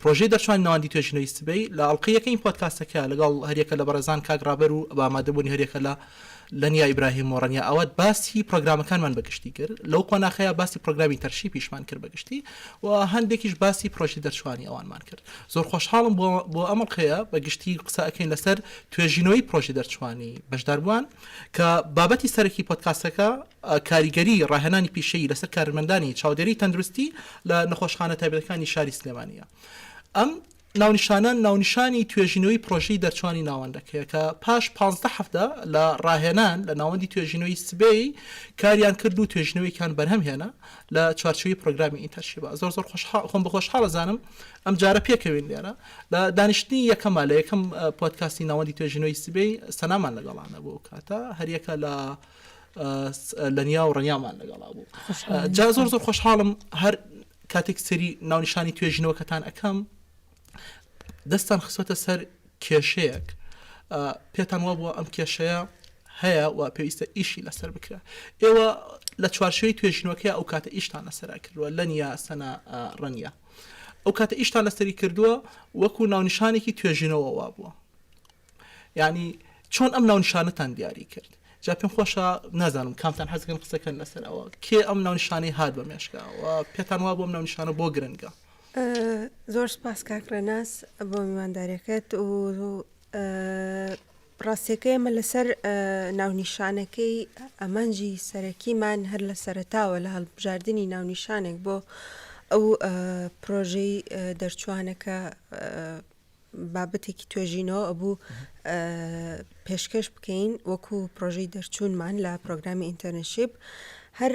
پرۆژەی دەرچوانی نواندی توێژینەوەی سبەی لە ئەڵقەی یەکەمی پۆدکاستەکە لەگەڵ هەریەکە لە بەڕێزان کاک ڕابەر و بە ئامادەبوونی هەریەکە لە لەنیا ئیبراهیم و ڕەنیا ئاوات باسی پرۆگرامەکانمان بەگشتی کرد لەو قۆناخەیە باسی پرۆگرامی تەرشی پیشمان کرد بەگشتی و هەندێکیش باسی پرۆژی دەرچوانی ئەوانمان کرد زۆر خۆشحاڵم بۆ بۆ ئەمەڵقەیە بەگشتی قسە ئەەکەین لەسەر توێژینەوەی پرۆژی دەرچوانی بەشداربووان کە بابەتی سەرەکی پۆدکاستەکە کاریگەری ڕاهێنانی پیشەیی لەسەر کارمەندانی چاودێری تەندروستی لە نەخۆشخانە تایبەتەکانی شاری سلێمانییە ئەم ناونیشانە ناونیشانی توێژینەوەی پرۆژەی دەرچوانی ناوەندەکەیە کە پاش پازدە هەفتە لە ڕاهێنان لە ناوەندی توێژینەوەی سبەی کاریان کرد و توێژینەوەیکان بەرهەم هێنا لە چوارچوی پرۆگرامی ئینتەرشیبە زۆر زۆر خۆم بە خۆشحاڵە زانم ئەم جارە پێکەوین لێرە لە دانیشتنی یەکەمە لە یەکەم پۆتکاستی ناوەندی توێژینەوەی سبەی سەنامان لەگەڵانە بۆ کاتە هەریەکە لە لەنیا و ڕنیامان لەگەڵا بوو جا زۆر زۆر خۆشحاڵم هەر کاتێک سری ناونیشانی توێژینەوەکەتان ئەەکەم دەستان خسۆتە سەر کێشەیەک پێتان وا بووە ئەم کێشەیە هەیە و پێویستە ئیشی لەسەر بکرێ ئێوە لە چوارشوی توێژینەوەکە ئەو کاتە ئیشتان لەسەرا کردووە لە نیا سەنا ڕەنە ئەو کاتە ئیشتان لەسەری کردووە وەکو ناونیشانێکی توێژینەوە وا بووە یانی چۆن ئەم ناونشانەتان دیاری کرد جا پێم خۆشە نازانم کامتان حەزکەن قسەکەن لەسەر ئەوە کێ ئەم ناونشانەی هات بە مێشکە و پێتان وا بۆم ناونشانە بۆ گرنگە زۆر سپاس کاک ڕێناس بۆ میواندارەکەت و ڕاستیەکە ئێمە لەسەر ناونیشانەکەی ئەمانجی سەرەکیمان هەر لە سەرتاوە لە هەڵبژاردننی ناونیشانێک بۆ ئەو پرۆژەی دەرچوانەکە بابەتێکی توێژینەوە ئەبوو پێشکەش بکەین وەکو پرۆژەی دەرچوونمان لە پرۆگرامی ئینتەرنشیب هەر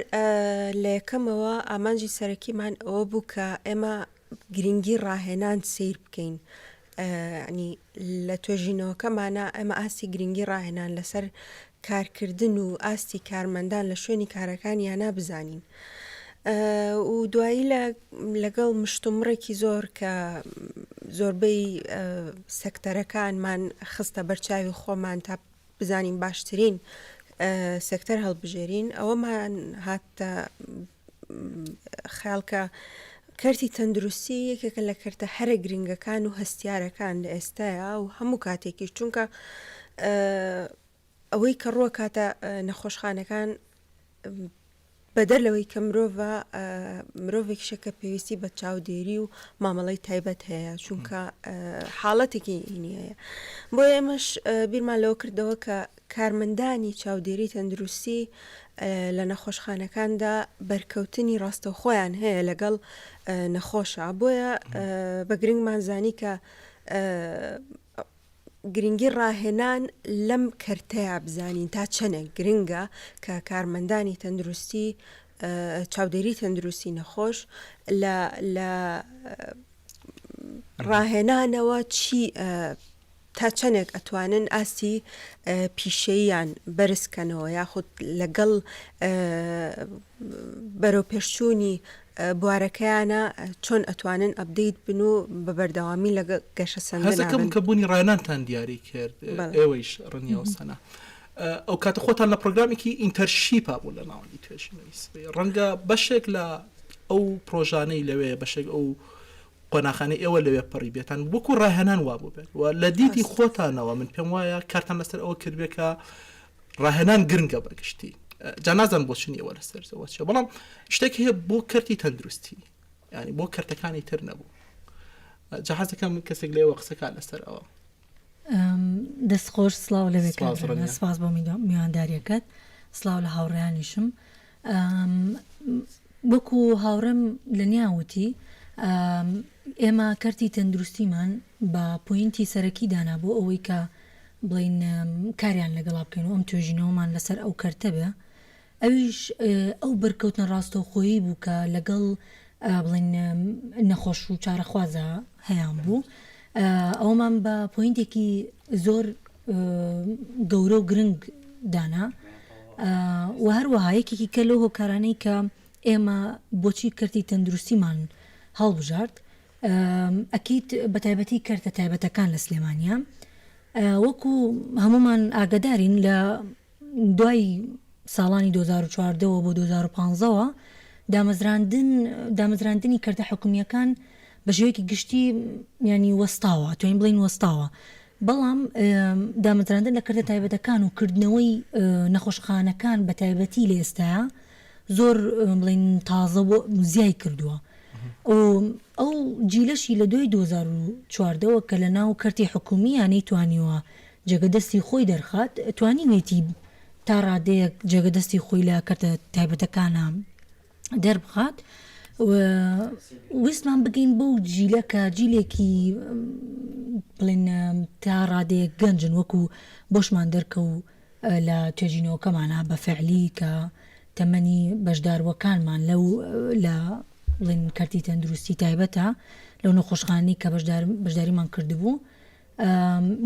لە یەکەمەوە ئامانجی سەرەکیمان ئەوە بوو کە ئێمە گرنگی ڕاهێنان سیر بکەین ینی لە توێژینەوەکەمانە ئەمە ئاستی گرنگی ڕاهێنان لەسەر کارکردن و ئاستی کارمەندان لە شوێنی کارەکانیانا بزانین و دوایی لە لەگەڵ مشتومڕێکی زۆر کە زۆربەی سەکتەرەکانمان خستە بەرچاوی خۆمان تا بزانین باشترین سەکتەر هەڵبژێرین ئەوەمان هاتە خەیاڵکە کەرتی تەندروستی یەکێکە لە کەرتە هەرە گرنگەکان و هەستیارەکان لە ئێستایا و هەموو کاتێکی چونکە ئەوەی کە ڕووە کاتە نەخۆشخانەکان بەدەر لەوەی کە مرۆڤ مرۆڤێک شەکە پێویستی بە چاودێری و مامەڵی تایبەت هەیە چونکە حاڵەتێکی نیە بۆ ئێمەش بیرمان لەوە کردەوە کە کارمەندانی چاودێری تەندروستی لە نەخۆشخانەکاندا بەرکەوتنی ڕاستەوخۆیان هەیە لەگەڵ نەخۆشە بۆیە بە گرنگمان زانی کە گرنگی ڕاهێنان لەم کەرتەیە بزانین تا چەنێک گرنگە کە کارمەندانی تەندروستی چاودێری تەندروستی نەخۆش لە ڕاهێنانەوە چی تا چەندێک ئەتوانن ئاستی پیشەییان بەرز کەنەوە یاخود لەگەڵ بەرەوپێشچوونی بوارەکەیانا چۆن ئەتوانن ئەپدەیت بن و بە بەردەوامی لە گەشەسەندن هەزەکەم کە بوونی ڕانانتان دیاری کرد ئێوەیش ڕنیەوەسەنا ئەو کاتە خۆتان لە پرۆگرامێکی ئینتەرشیپا بوو لە ناوەندی توێژینەوەی سبەی ڕەنگە بەشێک لە ئەو پرۆژانەی لەوێ بەشێک ئەو قۆناخانەی ئێوە لەوێ پەڕی بێتان وەکو ڕاهێنان وا بووبێت و لە دیدی ڕاست خۆتانەوە من پێم وایە کارتان لەسەر ئەوە کردبێ کە ڕاهێنان گرنگە بە گشتی ئە، جا نازانم بۆ چ نییە وەرە سەر زەوە چیە بەڵام شتێک هەیە بۆ کەرتی تەندروستی یعنی بۆ کەرتەکانی تر نەبوو ئە، جا حەز دەکەم کەسێک لێوە قسە کا لەسەر ئەوە ئەم، دەست خۆش سڵاو لەوێ سپاس کاک ڕەنا ڕەنیا. سپاس بۆ میدوا- میوانداریەکەت سڵاو لە هاوڕێیانیشم وەکو هاوڕێم لەنیا وتی، ئێمە کەرتی تەندروستیمان بە پۆینتی سەرەکی دانا بۆ ئەوەی کە بڵێین کاریان لەگەڵا بکەین و ئەم توێژینەوەمان لەسەر ئەو کەرتە بێ، ئەویش ئەو بەرکەوتنە ڕاستەوخۆیی بوو کە لەگەڵ بڵێن نەخۆش و چارەخوازە هەیان بوو ئەومان بە پوینتێکی زۆر گەورە و گرنگ دانا و هەروەها یەکێکی کە لەو هۆکارانەی کە ئێمە بۆچی کردی تەندروستیمان هەڵبژارد ئەکییت بە تایبەتی کردە تایبەتەکان لە سلێمانیا وەکو هەمومان ئاگدارین لە دوای ساڵانی دوو هەزار و چواردە وە بۆ دوو هەزار و پازدە وە دامەزراندن دامەزراندنی کردە حکومیەکان بە شێوەیەکی گشتی یانی وەستاوە توین بڵین وەستاوە بەڵام دامەزراندن لە کردە تایبەتەکان و کردنەوەی نەخۆشخانەکان بە تایبەتی لە ئێستا زۆر بڵین تازە بۆ زیای کردووە ئەو جیلەشی لە دوای 2014ەوە کە لە ناو کەرتی حکومی یانەی توانیوە جێگە دەستی خۆی دەرخات توانیوێتی تا ڕادەیەک جێگە دەستی خۆی لە کەرتە تایبەتەکانا دەربخات و ویستمان بگەین بەو جیلە کە جیلێکی بڵێن تا ڕادەیەک گەنجن وەکو بۆشمان دەرکەوو لە توێژینەوەکەمانە بە فعلی کە تەمەنی بەشداروەکانمان لەو لە بڵێن کەرتی تەندروستی تایبەتە لەو نەخۆشخانەی کە بەشداریمان کردبوو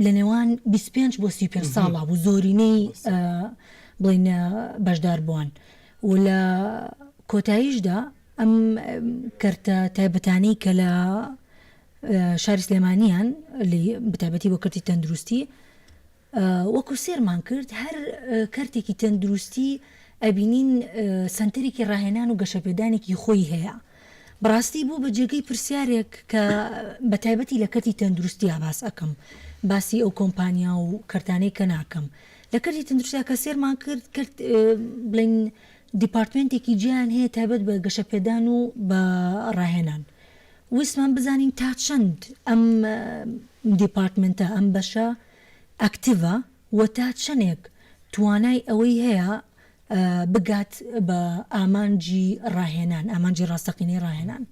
لە نێوان بیست و پێنج بۆ سی و پێنج ساڵە بوو زۆرینەی بڵین بەشدار بووان و لە کۆتاییشدا ئەم کەرتە تایبەتانەی کە لە شاری سلێمانیان بتابەتی بۆ کردی تەندروستی وەکو سێرمان کرد هەر کەرتێکی تەندروستی ئەبینین سنتەرێکی ڕاهێنان و گەشەپێدانێکی خۆی هەیە بەڕاستی بوو بە جێگەی پرسیارێک کە بە تایبەتی لە کەرتی تەندروستیا باس ئەکەم باسی ئەو کۆمپانیا و کەرتانەی کە ناکەم لە کەرتی تەندروستیا کە سێرمان کرد کرد بڵین دیپارتمنتێکی جیان هەیە تایبەت بە گەشەپێدان و بە ڕاهێنان ویستمان بزانین تا چەند ئەم دیپارتمنتە ئەم بەشە ئەکتیڤە و تا چەندێک توانای ئەوەی هەیە بگات بە ئامانجی ڕاهێنان، ئامانجی ڕاستەقینەی ڕاهێنان.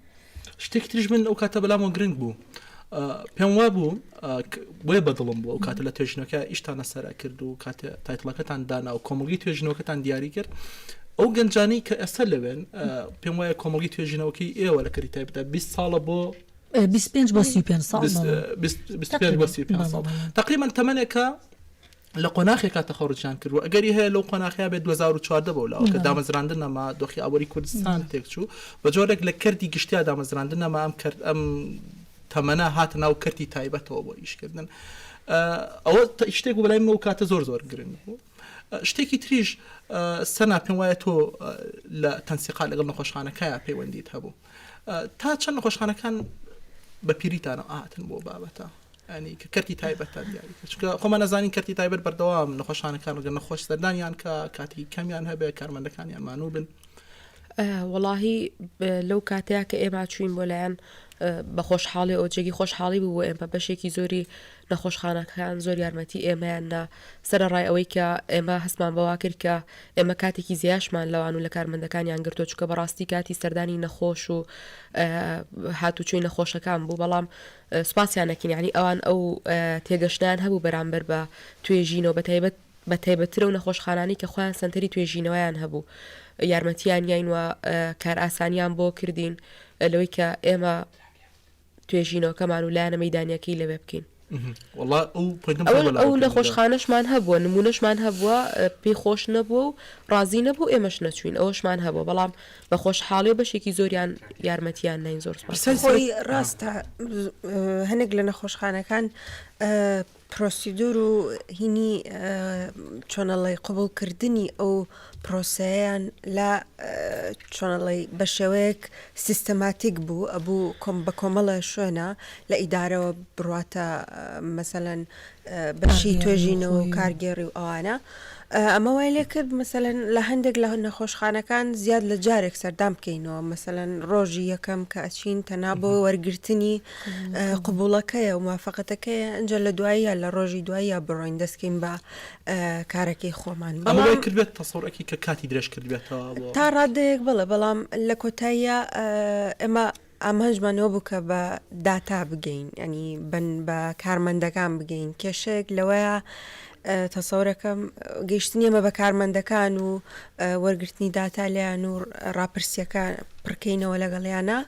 شتێکی تریش من ئەو کاتە بەلامەوە گرنگ بوو پێم وا بوو بۆیە بەدڵم بوو ئەو کاتە لە توێژنەکە ئیشتانە سەرا کرد و کاتێ تایتڵەکەتان دانا و کۆمەڵگی توێژنەوەکەتان دیاری کرد ئەو گەنجانی کە ئێستا لەوێن پێم وایە کۆمەڵگی توێژینەوەکەی ئێوە لە کەری تایبدا 20 ساڵە بۆ 25 بۆ 35 ساڵ تقریبا تەمەێکە لە قۆناخێکا تەخەڕوجیان کرد و ئەگەری هەیە لەو قۆناخیا بێت 2014 بەو لاوە کە دامەزراندن نەما دۆخی ئابووری کوردستان تێکچوو بە جۆرێک لە کردی گشتیا دامەزراندن نەما ئەم کرد ئەم تەمەە هاتە ناو کردی تایبەتەوە بۆ ئیشکردن ئەوە شتێک بەلای من و کاتە زۆر زۆر گرنگ بوو. شتێکی تریش سەنا پێم وایە تۆ لە تەنسیقا لەگەڵ نەخۆشخانەکەیە پەیوەندیت هەبوو تا چەند نەخۆشخانەکان بە پیریتانە ئاهاتن بۆ بابەتە ینی کە کەرتی تایبەتە دیاری چکە خۆمان نەزانین کەرتی تایبەت بەردەوام نەخۆشانەکان ڕگە نەخۆش سەردانیان کە کاتی کەمیان هەبێ کارمەندەکانیان مانوو بن وەڵاهی لەو کاتەیە کە ئێمە چوین بۆ لایەن بە خۆشحاڵی ئەو جێگی خۆشحاڵی بوو ئێمە بەشێکی زۆری نەخۆشخانەکان زۆر یارمەتی ئێمەیان نا سەرڕای ئەوەی کە ئێمە هەستمان بەوا کرد کە ئێمە کاتێکی زیاشمان لەوان و لە کارمەندەکانیان گرتو چکە بەڕاستی کاتی سەردانی نەخۆش و هاتوچوی نەخۆشەکان بوو بەڵام سوپاسیان دەکەین یەعنی ئەوان ئەو تێگەشتنەیان هەبوو بەرامبەر بە توێژینەوە بەتایبەت بە تایبەتتر ئەو نەخۆشخانانەی کە خۆیان سەنتەری توێژینەوەیان هەبوو یارمەتیان یاین و کارئاسانیان بۆ کردین لەوەی کە ئێمە توێژینەوەکەمان و لایەنە مەدانیەکەی لەوێ بکەین ئەو نەخۆشخانەشمان هەبووە نمونەشمان هەبووە پێی خۆش نەبووە و ڕازی نەبوو ئێمەش نەچوین ئەوەشمان هەبوو بەڵام بەخۆشحاڵی و بەشێکی زۆریان یارمەتیان ناین زۆر خۆی ڕاستە هەنێک لە نەخۆشخانەکان پرۆسیدور و هینی چۆنەڵی قوبولکردنی ئەو پرۆسەیان لە چۆنەڵی بە شێوەیەک سیستەماتیک بوو ئەبوو کۆم بە کۆمەڵە شوێنە لە ئیدارەوە بڕاتە مەسەەن بەشی توێژینەوە و کارگێڕی و ئەوانە ئەمە وای لێ کرد مەسەلەن لە هەندێک لە نەخۆشخانەکان زیاد لە جارێک سەردان بکەینەوە مەسەلەن ڕۆژی یەکەم کە ئەچین تەنا بۆ وەرگرتنی قوبوڵەکەیە و مافەقەتەکەیە ئەجا لە دواییە لە ڕۆژی دواییە بڕۆین دەستکەین بە کارەکەی خۆمان ئەمە وای کردبێت تەسەورەکی کە کاتی درێژ کردبێتەوە تا ڕادەیەک بڵێ بەڵام لە کۆتاییە ئێمە ئامانجمان ئەوە بوو کە بە داتا بگەین یانی بە کارمەندەکان بگەین کێشەیەک لەوەیە تەسەورەکەم گەیشتنی ئەمە بە کارمەندەکان و وەرگرتنی داتا لیان و راپرسیەکە پڕکەینەوە لەگەڵیانە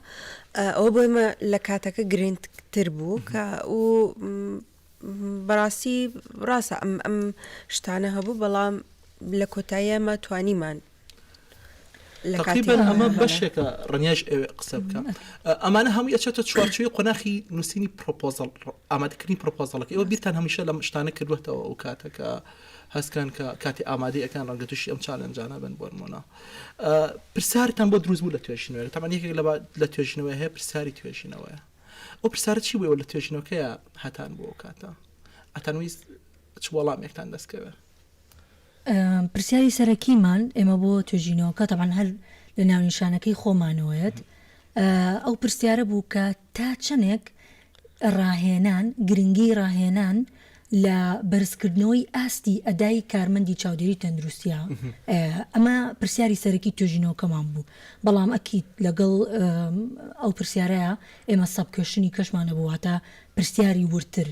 ئەو بۆیمە لە کاتەکە گرنگتر بوو کە و بەڕاستی ڕاستە ئەم ئەم شتانە هەبوو بەڵام لە کۆتاییمە توانیمان تقریبان ئەمە بەشێکە ڕنیاش ئەوێ قسە بکەم ئەمانە هەموو ئەچێتە چوارچوی قۆناخی نووسینی پرۆپۆزل ئامادەکردنی پرۆپۆزلەکە ئەوە بیرتان هەمیشە لەم شتانە کردوێتەوە ئەو کاتەکە هەستکان کە کاتی ئامادەی ئەکان ڕەنگە تووشی ئەم چالنجانە بن بۆن مۆنا پرسیارتان بۆ دروست بوو لە توێژینەوە تامان یەکێک لە توێژینەوە هەیە پرسیاری توێژینەوەیە ئەو پرسیارە چی بوو ئێوە لە توێژینەوەکەیە هاتان بۆ ئەو کاتە؟ ئەتانویست چ وەڵامێکتان دەست کەوێ؟ پرسیاری سەرەکیمان ئێمە بۆ توێژینەوەکە تەبان هەر لە ناونیشانەکەی خۆمانەوەیەت ئەو پرسیارە بوو کە تا چەندێک ڕاهێنان گرنگی ڕاهێنان لە بەرزکردنەوەی ئاستی ئەدای کارمەندی چاودێری تەندروستییە، ئەمە پرسیاری سەرەکی توێژینەوەکەمان بوو، بەڵام ئەکید لەگەڵ ئەو پرسیارەیا ئێمە سەب کوێشنی کەشمان هەبوو واتە پرسیاری وردتر.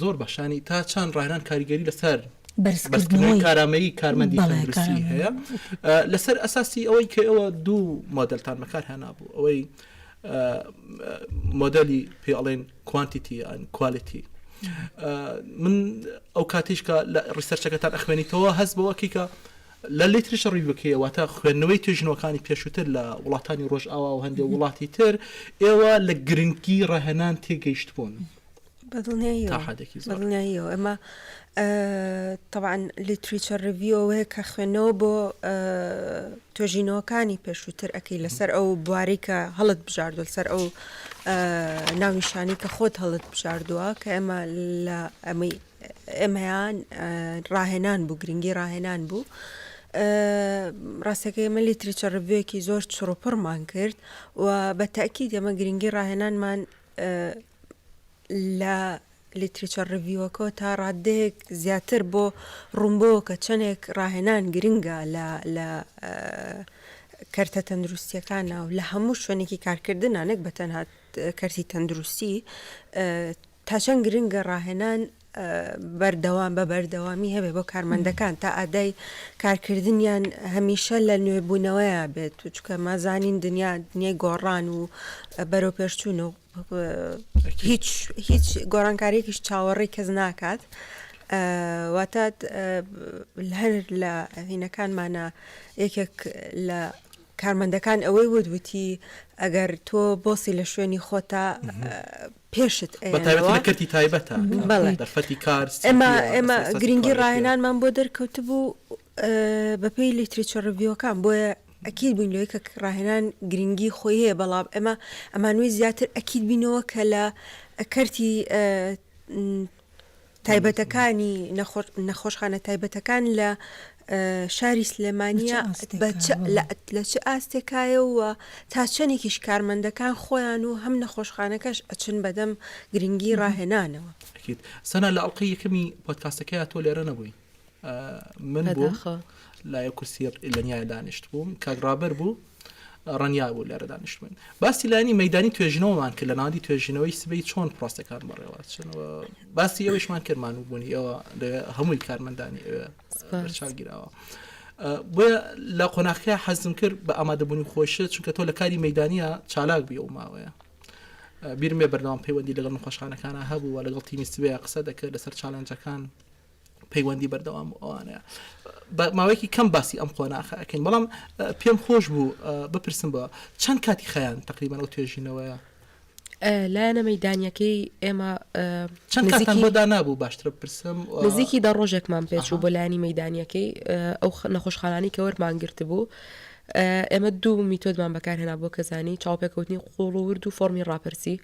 زۆر باش یانی تا چەند ڕاهێنان کاریگەری لەسەر بەرزکردنەوەی کارامەیی کارمەندی تەندروستی هەیە؟ لەسەر ئەساسی ئەوەی کە ئێوە دوو مۆدێلتان بەکارهێنابوو ئەوەی مۆدێلی پێ ئەڵێن، کوانتیتی یان کوالیتی من ئەو کاتیش کە لە ڕیسەرچەکەتان ئەخوێنیتەوە هەست بەوە کیکە لە لیتریش ڕیوەکەیەوە تا خوێندنەوەی توێژنەوەکانی پێشووتر لە وڵاتانی ڕۆژ ئاوا و هەندێک وڵاتی تر ئێوە لە گرنگی ڕەهێنان تێگەیشت بوون. بەدڵنیاییەوە ئەمە تەبعەن لیتریچە ڕیڤیو ئەوەیە کە خوێندنەوە بۆ توێژینەوەکانی پێشووتر ئەەکەی لەسەر ئەو بواری کە هەڵت بژاردو لەسەر ئەو ناونیشانی کە خۆت هەڵت بژاردووە کە ئێمە لە ئەمەی ئێمەیان ڕاهێنان بوو گرنگی ڕاهێنان بوو. ڕاستەکە ئێمە لیتریچە ڕبوویەکی زۆر چڕوپڕمان کرد و بە تاکی دەمە گرنگی ڕاهێنانمان لە Literature Review-ەکەوە تا ڕاددەیەک زیاتر بۆ ڕوون بۆوە کە چەندێک ڕاهێنان گرنگە لە لە کەرتە تەندروستییەکانا و لە هەموو شوێنێکی کارکردنا نەک بە تەنها کەرتی تەندروستی تا چەند گرنگە ڕاهێنان بەردەوام بە بەردەوامی هەبێ بۆ کارمەندەکان تا ئادای کارکردنیان هەمیشە لە نوێبوونەوەیە بێت و چکە مازانین دنیا دنیای گۆڕان و بەرەوپێشچوون و هیچ هیچ گۆڕانکاریێکیش چاوەڕێی کەس ناکات واتە هەر لە هینەکانمانە یەکێک لە کارمەندەکان ئەوەی ودوتی ئەگەر تۆ بۆسی لە شوێنی خۆتا پێشت کەتی تایبەتە بەڵێ دەرفەتی کار ئێمە ئێمە گرنگی ڕاهێنانمان بۆ دەرکەوت بوو بەپێی لیتریچە ڕڤیوەکان بۆیە ئەکید بووین لەوەی کە ڕاهێنان گرنگی خۆی هەیە بەڵام ئێمە ئەمانوی زیاتر ئەکید بینەوە کە لە کەرتی تایبەتەکانی نەخۆشخانە تایبەتەکان لە شاری سلێمانیا لە چ ئاستێکایەوە تا چەندێکیش کارمەندەکان خۆیان و هەم نەخۆشخانەکەش ئەچن بەدەم گرنگی ڕاهێنانەوە سەنا لە ئەڵلقەی یەکەمی پۆتکاسەکەی تۆ لێرە نەبووی من لای کورسی لەنیا دانیشت بووم کاک ڕابەر بوو ڕەنیا بوو لێرە دانیشت بوون باسی لانی مەدانی توێژنەوەمان کرد لە ناوی توێژینەوەی سبەی چۆن پرۆسەکان بەڕێوە چنەوە باسی ئەوشمان کردمان و بوونی ئەوە لە هەمووی کارمەندانی ئەوێچگیراوە. بۆیە لە قۆناخەکە حەزم کرد بە ئامادەبوونی خۆشە چونکە تۆ لە کاری مەدانە چالاک بی و ماوەیە بیرمێ بەردەوام پەیوەندی لەگەڵ نەخۆشخانەکانە هەبوو و لەگەڵ تیمیستبێ قسە دەکرد لەسەر چالنجەکان پەیوەندی بەردەوام و ئەوانە بە ماوەیەکی کەم باسی ئەم قۆناخە ئەکەین بەڵام پێم خۆش بوو بپرسم بە چەند کاتی خیان تقریبان ئەو توێژینەوەیە لایەنە مەدانیەکەی ئێمە چەند کاتان بۆدا نبوو باشتر بپرسم نزیکی دە ڕۆژێکمان پێچوو بۆ لایانی مەدانیەکەی ئەو نەخۆشخانانی کە وەرمان گرت بوو ئێمە دوو میتۆدمان بەکارهێنا بۆ کەزانی چاوپێکەوتنی قوڵ و ورد و فۆمی ڕاپرسی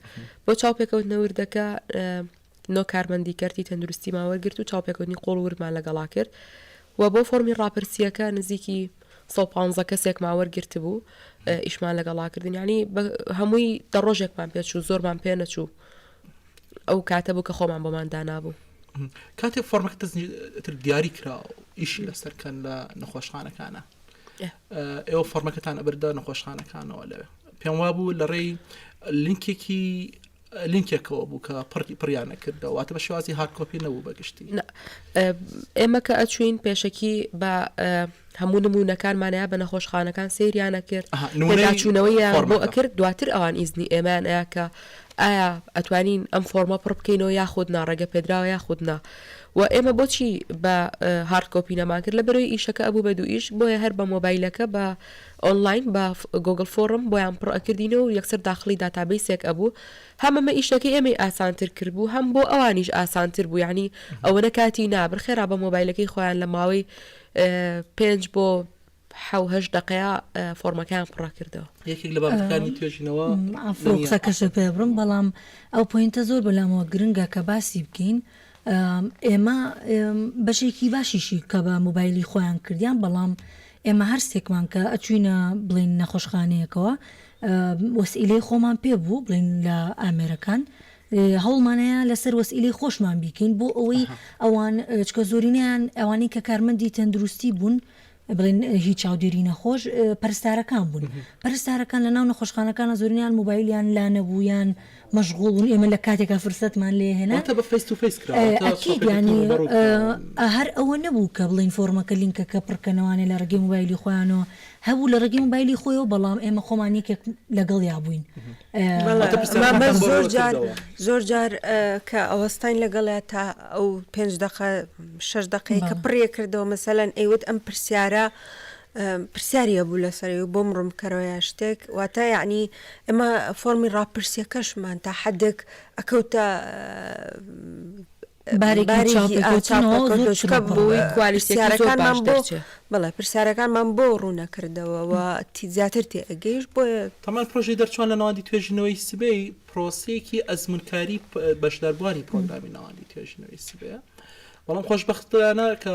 بۆ چاوپێکەوتنەوردەکە نۆ کارمەندی کەرتی تەندروستیمان وەرگرت و چاوپێکەوتنی قووڵ و وردمان لەگەڵا کرد و بۆ فۆڕمی ڕاپرسییەکە نزیکی سەد و پازدە کەسێکمان وەرگرتبوو ئیشمان لەگەڵا کردن یعنی هەمووی دە ڕۆژێکمان پێچوو زۆرمان پێ نەچوو ئەو کاتە بوو کە خۆمان بۆمان دانابوو کاتێک فۆرمەکە تر دیاری کرا و ئیشی لەسەرکەن لە نەخۆشخانەکانە ئێوە فۆرمەکەتان ئەبردا نەخۆشخانەکانەوە لەوێ پێم وا بوو لە ڕێی لینکێکی لینکێکەوە بوو کە پڕی پڕیان نەکردەوە واتە بە شێوازی هارد کۆپی نەبوو بە گشتی. نا ئێمە کە ئەچوین پێشەکی بە هەموو نموونەکانمانەیە بە نەخۆشخانەکان سەیریانە کرد ئەها، نمونەی پێداچوونەوەیان بۆ فۆرمەکە. ئەکرد دواتر ئەوان ئیزنی ئێمەیان ئەیا کە ئایا ئەتوانین ئەم فۆرمە پڕ بکەینەوە یاخود نا ڕێگە پێدراوە یاخود نا و ئێمە بۆچی بە هارد کۆپی نەمان کرد لەبەرەوەی ئیشەکە ئەبوو بە دوو ئیش بۆیە هەر بە مۆبایلەکە بە ئۆنڵاین بە گۆگڵ فۆڕم بۆیان پڕ ئەکردینەوە و یەکسەر داخڵی داتابەیسێک ئەبوو هەم ئەمە ئیشەکەی ئێمەی ئاسانتر کردبوو هەم بۆ ئەوانیش ئاسانتر بوو یەعنی ئەوەنە کاتی نابر خێرا بە مۆبایلەکەی خۆیان لە ماوەی پێنج بۆ حەو هەشت دەقەیە فۆرمەکەیان پڕە کردەوە یەکێک لە بابەتەکانی توێژینەوە ئافرۆ قسەکەشە پێ بڕم بەڵام ئەو پوینتە زۆر بەلامەوە گرنگە کە باسی بکەین ئێمە بەشێکی باشیشی کە بە موبایلی خۆیان کردیان بەڵام ئێمە هەر سێکمان کە ئەچووینە بڵێین نەخۆشخانەیەکەوە وەسئیلەی خۆمان پێ بوو بڵێین لە ئامێرەکان هەوڵمان هەیە لەسەر وەسئیلەی خۆشمان بیکەین بۆ ئەوەی ئەوان چکە زۆرینەیان ئەوانەی کە کارمەندی تەندروستی بوون بڵێن هیچ چاودێری نەخۆش پەرستارەکان بوون پەرستارەکان لە ناو نەخۆشخانەکانە زۆرینیان موبایلیان لا نەبوویان مەشغوڵ بوون ئێمە لە کاتێکا فرسەتمان لێ هێنا. واتە بە فەیس تو فەیس کرا واتە ئەکید سۆفێتی یانی تەموو بەڕوو کراوە. ئا هەر ئەوە نەبوو کە بڵێین فۆڕمەکە لینکەکە پڕ کەنەوانێ لە ڕێگەی مۆبایلی خۆیانەوە هەبوو لە ڕێگەی مۆبایلی خۆیەوە بەڵام ئێمە خۆمان یەکێک لەگەڵیا بووین واتە ئا پرسیارەکان مامە تان بۆ زۆر ڕوونتر جار کردەوە. زۆر جار کە ئەوەستاین لەگەڵیا تا ئەو پێنج دەقە شەش دەقەی کە بەڵێ. پڕیەکردەوە مەسەلەن ئەیوت ئەم پرسیارە پرسیاری هەبوو لەسەری و بۆم ڕوونبکەرەوەە شتێک واتە یەعنی ئێمە فۆرمی ڕاپرسیەکەشمان تا حەدێک ئەکەوتە بەڵێ پرسیارەکانمان بۆ ڕوونەکردەوە و تیزیاتر تێ ئەگەیش بۆ تەمان پرۆژی دەرچوان لە ناوەندی توێژینەوەی سبەی پرۆسەیەکی ئەزمونکاری بەشداربووانی پرۆگرامی ناوەندی توێژینەوەی سبەیە بەڵام خۆشببختانە کە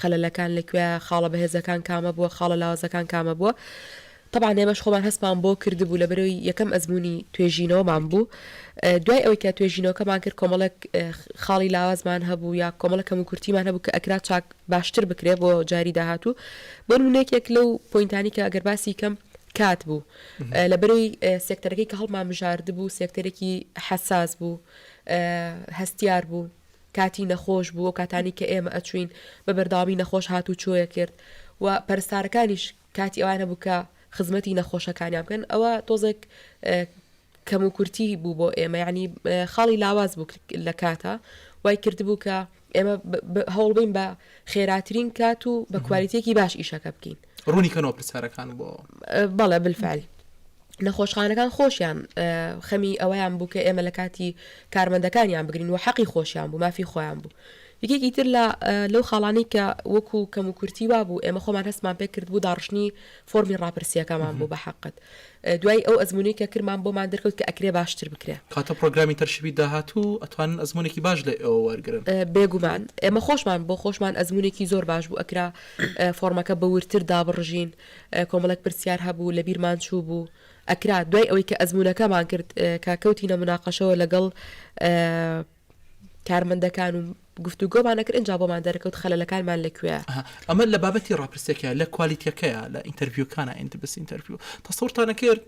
خەلەلەکان لەکوێیە، خاڵە بەهێزەکان کامە بووە، خاڵە لاوازەکان کامە بووە. تەبعەن ئێمەش خۆمان هەستمان بۆ کردبوو لەبەرەوەی یەکەم ئەزموونی توێژینەوەمان بوو. دوای ئەوەی کە توێژینەوەکەمان کرد کۆمەڵێک خاڵی لاوازمان هەبوو یا کۆمەڵە کەم و کورتیمان هەبوو کە ئەکرا چاک باشتر بکرێ بۆ جاری داهاتوو. بۆ نموونە یەکێک لەو پۆینتانی کە ئەگەر باسی کەم کات بوو. لەبەرەوەی سێکتەرەکەی کە هەڵمانبژاردبوو سێکتەرێکی حەساس بوو، هەستیار بوو. کاتی نەخۆش بوو، ئەو کاتانەی کە ئێمە ئەچووین بە بەردەوامی نەخۆش هات و چۆ ئەکرد و پەرستارەکانیش کاتی ئەوان هەبوو کە خزمەتی نەخۆشەکانیان بکەن، ئەوە تۆزێک کەموکورتی بوو بۆ ئێمە، یانی خاڵی لاواز بوو لە کاتە وای کردبوو کە ئێمە هەوڵبین بە خێراترین کات و بە کوالیتێکی باش ئیشەکە بکەین. ڕوونی کەنەوە پرسیارەکان بۆ بەڵێ بالفعل نەخۆشخانەکان خۆشیان خەمی ئەوەیان بوو کە ئێمە لە کاتی کارمەندەکانیان بگرین و حەقی خۆشیان بوو مافی خۆیان بوو یەکێکی تر لە لەو خاڵانی کە وەکو کەم و کورتی وا بوو ئێمە خۆمان هەستمان پێ کرد بوو داڕشتنی فۆرمی ڕاپرسیەکەمان بوو بە حقت دوای ئەو ئەزمونەی کە کرمان بۆمان دەرکەوت کە ئەکرێ باشتر بکرێ. کاتۆ پرۆگرامی تەرشیبی داهاتوو ئەتوانن ئەزمونێکی باش لە ئێوە وەرگرن. بێگومان ئێمە خۆشمان بۆ خۆشمان ئەزمونێکی زۆر باش بوو ئەکرا فۆڕمەکە بە وردتر دابڕژین کۆمەڵێک پرسیار هەبوو لە بیرمان چوو بوو ئەکرا دوای ئەوەی کە ئەزمونەکەمان کرد کە کەوتینە مناقەشەوە لەگەڵ کارمەندەکان و گفتوگۆمان دەکرد ئینجا بۆمان دەرکەوت خەلەلەکانمان لە کوێیە. ئەها ئەمە لە بابەتی ڕاپرسیەکەیە لە کوالیتیەکەیە لە ئینتەرڤیوکانا ئیندبس ئینتەرڤیو تەسەورتان نەکرد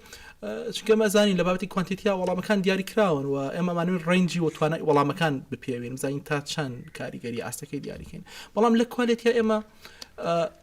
چونکە ئێمە ئەزانین لە بابەتی کوانتیتیا وەڵامەکان دیاری کراون و ئێمە ئەمانوێن ڕەنجی و توانای وەڵامەکان بپێوین بزانین تا چەند کاریگەری ئاستەکەی دیاریکەین بەڵام لە کوالێتیا ئێمە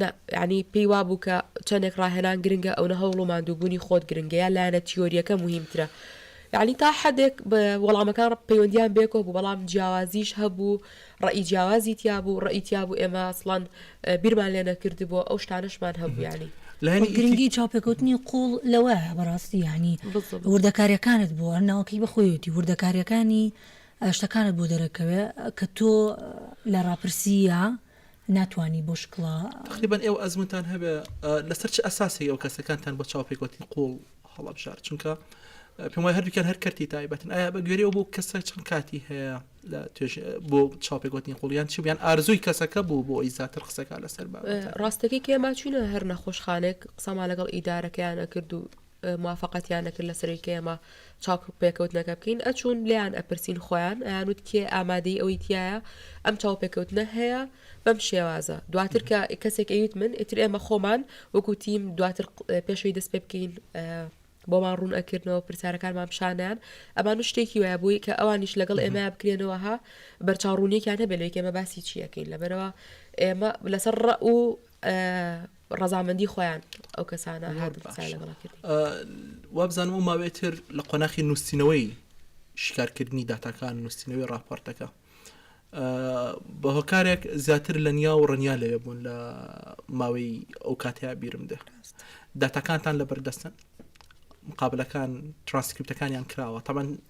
نا، یانی پێی وابوو کە چەندێک ڕاهێنان گرنگە ئەونە هەوڵ و ماندووبوونی خۆت گرنگە یان لایەنە تیۆرییەکە موهیمترە؟ یانی تا حەدێک وەڵامەکان پەیوەندییان بەیەکەوە بوو بەڵام جیاوازیش هەبوو، ڕەئی جیاوازی تیابوو، ڕەئی تیابوو ئێمە ئەسڵەن بیرمان لێ نەکردبوو، ئەو شتانەشمان هەبوو یانی. خۆ گرنگی چاوپێکەوتنی قووڵ لەوەیە بەڕاستی یانی وردەکارییەکانت بۆ هەر ناوەکەی بە خۆیەتی وردەکارییەکانی شتەکانت بۆ دەرەکەوێ کە تۆ لە ڕاپرسییە، ناتوانی بۆ شکڵە. تەقریبەن ئێوە ئەزموونتان هەبێ لەسەر چ ئەساسێکەوە کەسەکانتان بۆ چاوپێکەوتنی قووڵ هەڵەبژارد چونکە پێم وای هەردووکیان هەر کەرتی تایبەتن ئایا بە گوێرەوە بۆ کەسە چەند کاتی هەیە لە توێژ بۆ چاوپێکوتنی قوڵیان چی بیان ئارزووی کەسەکە بوو بۆ ئەی زیاتر قسەکە لەسەر بە ڕاستەکەی کێما چوینە هەر نەخۆشخانێک قسەما لەگەڵ ئیدارەکەیانە کرد و موافەقەتیان نەکرد لەسەروی کە ئێمە چاوپێکەوتنەکە بکەین ئەچوون لێیان ئەپرسین خۆیان ئەیانوت کێ ئامادەی ئەوەی تایە ئەم چاوپێکەوتنە هەیە بەم شێوازە دواتر کە کەسێک ئەویت من ئیتر ئێمە خۆمان وەکوتیم دواتر پێشەوەی دەست پێ بکەین بۆمان ڕوون ئەکردنەوە پرسیارەکانمان پیشانیان ئەمان شتێکی وایە بووی کە ئەوانیش لەگەڵ ئێمە بکرێنەوە ها بەرچاوڕونیەکیان هەبێت لەکێمە باسی چیەکەین لەبەرەوە ئێمە لەسەر ڕە و ڕەزامەندی خۆیان ئەو کەسانە وابزانم و ماوێتر لە قۆناخی نووسینەوەی شکارکردنی داتاکان نووسینەوەی راپۆرتەکە بە هۆکارێک زیاتر لە نیا و ڕنیا لەوێ بوون لە ماوەی ئەو کاتیا بیرم دێ داتاکانتان لە بەردەستن مقابلەکان ترانسکرپتەکانیان کراوە تامان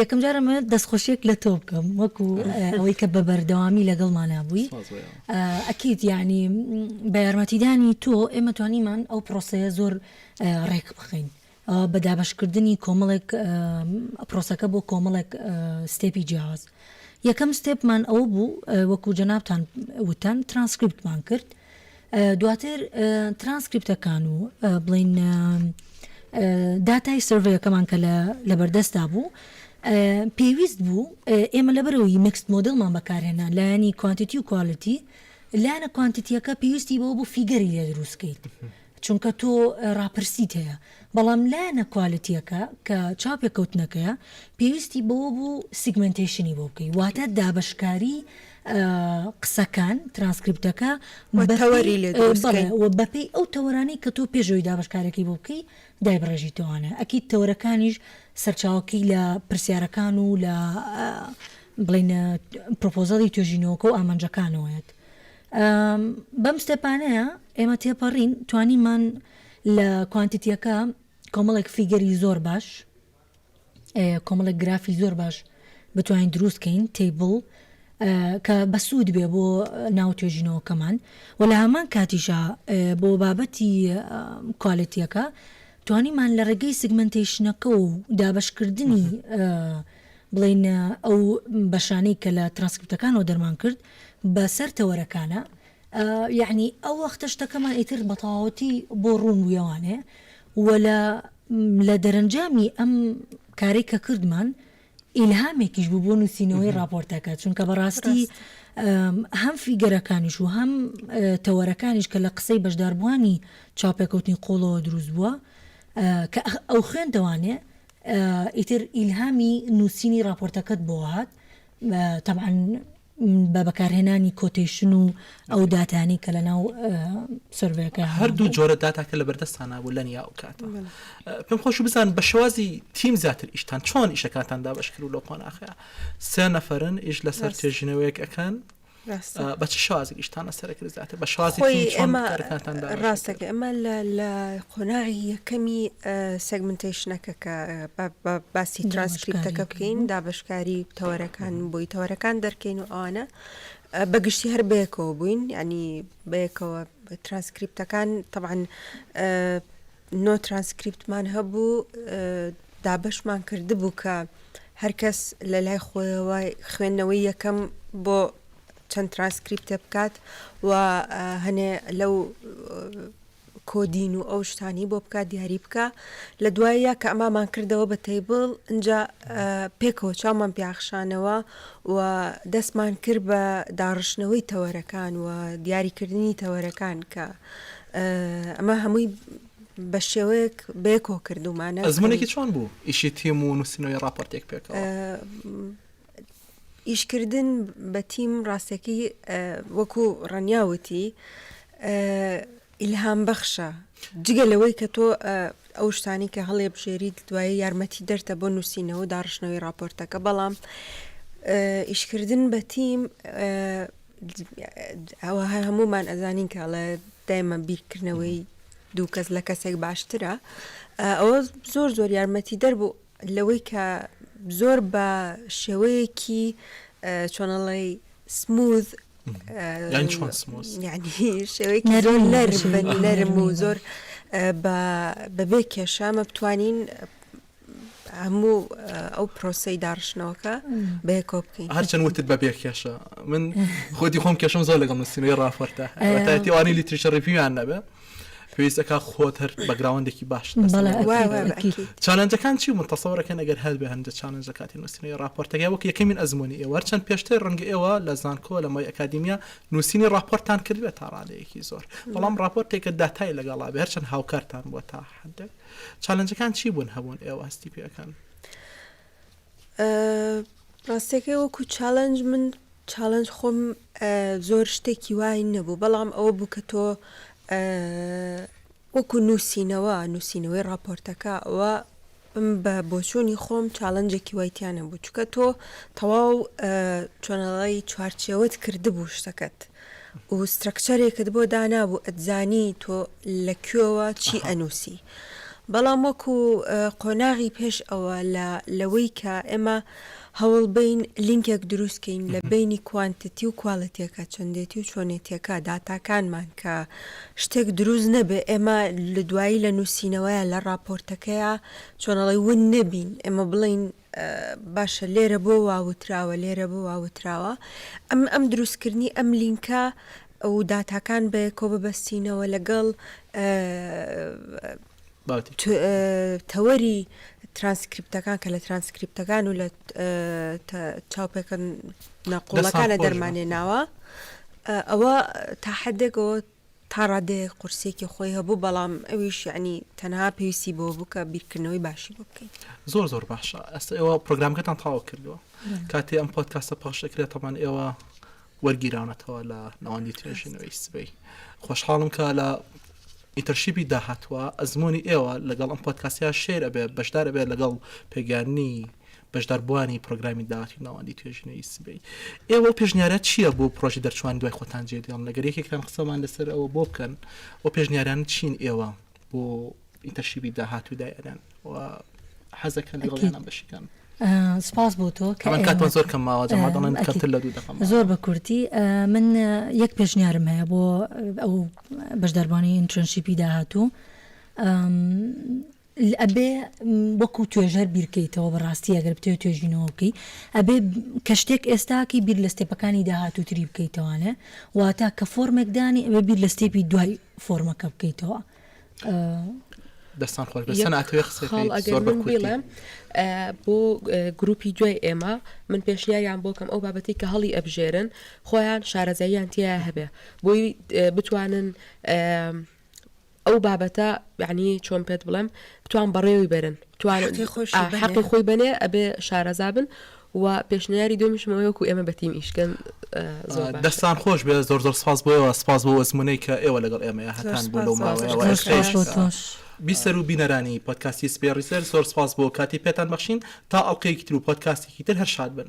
یەکەم جارە من دەست خۆشیەک لە تۆ بکەم وەکو ئەوەی کە بە بەردەوامی لەگەڵمانە بووی ئەکییت یعنی بە یارمەتیدانی تۆ ئێمە توانیمان ئەو پرۆسەیە زۆر ڕێک بخەین بە دابشکردنی کۆمەڵێک پرۆسەکە بۆ کۆمەڵێک ستێپی جیاواز یەکەم ستێپمان ئەوە بوو وەکو جەنابان وتەن ترانسکرپتمان کرد دواتر ترانسکریپتەکان و بڵێین داتای سرڤەیەکەمان کە لەبەردەستدا بوو، پێویست بوو ئێمە لەبەرەوەی میکست مۆدێڵمان بەکارهێنا لایەنی کوانتیتی و کوالیتی، لایەنە کوانتیتییەکە پێویستی بەوە بوو فیگەری لێ دروست کەیت، چونکە تۆ ڕاپرسیت هەیە بەڵام لایەنە کوالێتیەکە کە چاوپێکەوتنەکەیە پێویستی بەوە بوو سیگمێنتەیشنی بۆ بکەی واتە دابەشکاری قسەکان ترانسکریپتەکە بە تەوەری لێ دروست بڵێ بکەین. و بەپێی ئەو تەوەرانەی کە تۆ پێش ئەوی دابەشکارێکی بۆ بکەی دایبڕێژیتەوانە ئەکید تەوەرەکانیش سەرچاوەکەی لە پرسیارەکان و لە بڵێینە پرۆپۆزەڵی توێژینەوەکە و ئامانجەکانەوەیەت. بەم ستێپانەیە ئێمە تێپەڕین توانیمان لە کوانتیتیەکە کۆمەڵێک فیگەری زۆر باش کۆمەڵێک گرافی زۆر باش بتوانین دروستکەین تیبڵ کە بەسوود بێ بۆ ناو توێژینەوەکەمان و لە هەمان کاتیشە بۆ بابەتی کوالەتیەکە توانیمان لە ڕێگەی سگمنتیشنەکە و دابشکردنی بڵین ئەو بەشانەی کە لە ترانسکرپتەکانەوە دەرمان کرد بە سەر تەوەرەکانا یەعنی ئەو وەختە شتەکەمان ئیتر بەتەواوەتی بۆ ڕوون بوو یەوانێ و لە لە دەرەنجامی ئەم کارەی کە کردمان ئیلهامێکیش بوو بۆ نووسینەوەی ڕاپۆرتەکە چونکە بە ڕاستی هەم فیگەرەکانیش و هەم تەوەرەکانیش کە لە قسەی بەشداربووانی چاوپێکەوتنی قووڵەوە دروست بووە کە ئەو خوێندەوانێ ئیتر ئیلهامی نووسینی ڕاپۆرتەکەت بۆ هات تەبعەن بە بەکارهێنانی کۆتەیشن و ئەو داتانەی کە لەناو سروەیەکە هەبوو. هەردوو جۆرە داتا کە لەبەردەستتان نەبوو لە نیا ئەو کاتە. بەڵێ. پێم خۆش بزانم بە شێوازی تیم زیاتر ئیشتان چۆن ئیشەکانتان دابەش کرد و لەو قۆناخەیا سێ نەفەرن ئیش لەسەر. ڕاست. توێژینەوەیەک ئەکەن بە چ شازێک ئیشتان لەسەر کرد زیاتر بە شازی ڕاستەکە ئەمە لە قۆناغی یەکەمی سەگمنتیشنەکە کە باسی ترانسکریپتەکە بکەین دابشکاری تەوەرەکان بۆی تەوەرەکان دەرکەین و ئەوانە بەگشتی هەر بەیەکەوە بووین ینی بەیەکەوە ترانسکریپتەکان طبعاان نۆ ترانسکریپتمان هەبوو دابەشمان کردبوو کە هەرکەس لە لای خۆیەوە خوێندنەوەی یەکەم بۆ چەند ترانسکریپتە بکات و هەنێ لەو کۆدین و ئەو شتانی بۆ بکات دیاری بکە لە دوایە کە ئەمامان کردەوە بە تەیبڵ اینجا پێکەوە چاومان پیاخشانەوە و دەستمان کرد بە داڕشتنەوەی تەوەرەکان و دیاریکردنی تەوەرەکان کە ئەمە هەمووی بە شێوەیەک بێ کۆ کردومانە ئەزمونێکی چۆن بوو ئیشی تیم و نووسنەوەی راپۆرتێک پێکەوە ئیشکردن بە تیم ڕاستەکەی وەکو ڕەنیاوتی ئیلهام بەخشە جگە لەوەی کە تۆ ئەو شتانی کە هەڵێ بژێریت دوایی یارمەتی دەرتە بۆ نووسینەوە و داڕشتنەوەی راپۆرتەکە بەڵام ئیشکردن بە تیم ئەوە هەر هەموومان ئەزانین کە ئەڵێ دایمە بیرکردنەوەی دوو کەس لە کەسێک باشترە ئەوە زۆر زۆر یارمەتی دەربوو لەوەی کە زۆر بە شێوەیەکی چۆنەڵی سموز شێوەیەکی زۆر نەرم نەرم و زۆر بەبێ کێشامە بتوانین هەموو ئەو پرۆسی داڕشتنەوەکە بەیەکۆ بکەین هەرچەند وتت بە بێ کێشە من خۆتی خۆم کێشم زۆر لەگەڵ نووسینەوەی ڕافەرتە تاوانی لیتریشە ڕیپیان نەبێ پێویستەکە خۆت هەر بەگراوندێکی باش چالنجەکان چی من تەسەوەەکەن ئەگەر هەر بە هەندە چالنج لە کاتی نووسینەوەی راپۆرتەکە وەک یەکەمین ئەزمموی ئێوە هەرچەند پێشتر ڕنگ ئێوە لە زانکۆ لە مای ئەکادیمیا نووسینی راپۆرتان کردێت تا ڕادەیەکی زۆر بەڵام راپۆرتێکە داتای لەگەڵا بێ هەرچەند هاوکارتان بووە تا حدێک چالنجەکان چی بوون هەبوون ئێوە هەستی پێکەن؟ ڕاستەکەی وەکو چالنج من چالنج خۆم زۆر شتێکی وای نەبوو بەڵام ئەوە بوو کە تۆ وەکو نووسینەوە نووسینەوەی راپۆرتەکە ئەوە بە بۆچوونی خۆم چالنجێکی وایتیانە بوو چکە تۆ تەواو چۆنەڵی چوارچەوەت کردبوو شتەکەت و سترەکچەرێکت بۆ دانابوو ئەتزانی تۆ لە کوێوە چی ئەنووسی بەڵام وەکو قۆناغی پێش ئەوە لە لەوەی کە ئێمە هەوڵ بین لینکێک دروست کەین لە بینی کوانتتی و کوالێتیەکە چەندێتی و چۆنێتیەکە داتاکانمان کە شتێک دروست نەبێ ئێمە لە دوایی لە نووسینەوەیە لە ڕاپۆرتەکەیە چۆنەڵی ون نەبین ئێمە بڵین باشە لێرە بۆ وا وتراوە لێرە بۆ وا وتراوە ئەم ئەم دروست کردنی ئەم لینکە و داتاکان بەیەکۆ ببەستینەوە لەگەڵ تەوەری ترانسکریپتەکان کە لە ترانسکریپتەکان و لە چاوپێکەن ناقۆڵەکانە دەرمانێ ناوە ئەوە تا حدێکەوە تا ڕادەیەک قورسیەکی خۆی هەبوو بەڵام ئەویش یەعنی تەنها پێویستی بەوە بوو کە بیرکردنەوەی باشی بۆ بکەیت. زۆر زۆر باشە ئەستە ئێوە پرۆگرامەکەتان تەواو کردووە کاتێ ئەم پۆتکاسە پەخش دەکرێت تەمان ئێوە وەرگیراونەتەوە لە ناوەندی توێژینەوەی سبەی خۆشحاڵم کە لە ئیتەرشیبی داهاتوە ئەزمموی ئێوە لەگەڵ ئەم پۆتکاسیا شێر ئەبێ بەشدار ئەبێت لەگەڵ پێگەیاننی بەشداربووانی پرۆگرامی داهاتووی ناوەندی توێژینەوەی سبەی ئێوە و پێشنیارات چییە بۆ پرۆژی دەرچووان دوای خۆتان جێدێڵن لەگەر یەکێکتان قسەمان لەسەر ئەوە بۆ بکەن و پێشنیاران چین ئێوە بۆ ئینتەرشیبی داهاتوو دای ئەدەن و حەزەکەن لەڕۆژانە بەشیکەن سپاس بۆ تۆ کاتمان زۆر کەم ماوە جەما دەڵێن کەمتر لە دوو دەقەم زۆر بە کورتی من یەک پێشنیارم هەیە بۆ ئەو بەشداربانی ئینترنشیپی داهاتوو ئەبێ وەکو توێژەر بیرکەیتەوە بەڕاستی ئەگەر بتەوێ توێژینەوە بکەی ئەبێ کە شتێک ئێستاکەی بیر لە ستێپەکانی داهاتووتری بکەیتەوانێ واتا کە فۆرمێک دانی ئەبێ بیر لە ستێپی دوای فۆرمەکە بکەیتەوە دەستان خۆش بەسەن ئەتوێ قسەڵ ئەگەر من بڵێم بۆ گروپی دوای ئێمە من پێشنیاریان بۆکەم ئەو بابەتی کە هەڵی ئەبژێرن خۆیان شارەزاییان تیا هەبێ بۆی بتوانن ئەو بابەتە یانی چۆن پێت بڵێم بتوان بەڕێوی بەرن بتوان حەقی خۆی بەێ ئەبێ شارەزابن و پێشنیاری دومیشمەوەیەکو ئێمە بەتیم ئیشکەن دەستان خۆش بێ زۆر زۆر سپاس بۆەوە سپاس بۆ ئەزمونەی کە ئێوە لەگەڵ ئێمە هەتان بۆ لەو ماوەیە بیسەر و بینەرانی پۆتکاسی سپێ ڕیسەر زۆر سپاس بۆ کاتی پێتان بەخشین تا ئەڵلقەیەکی تر و پۆتکاستێکی تر هەر شاد بن.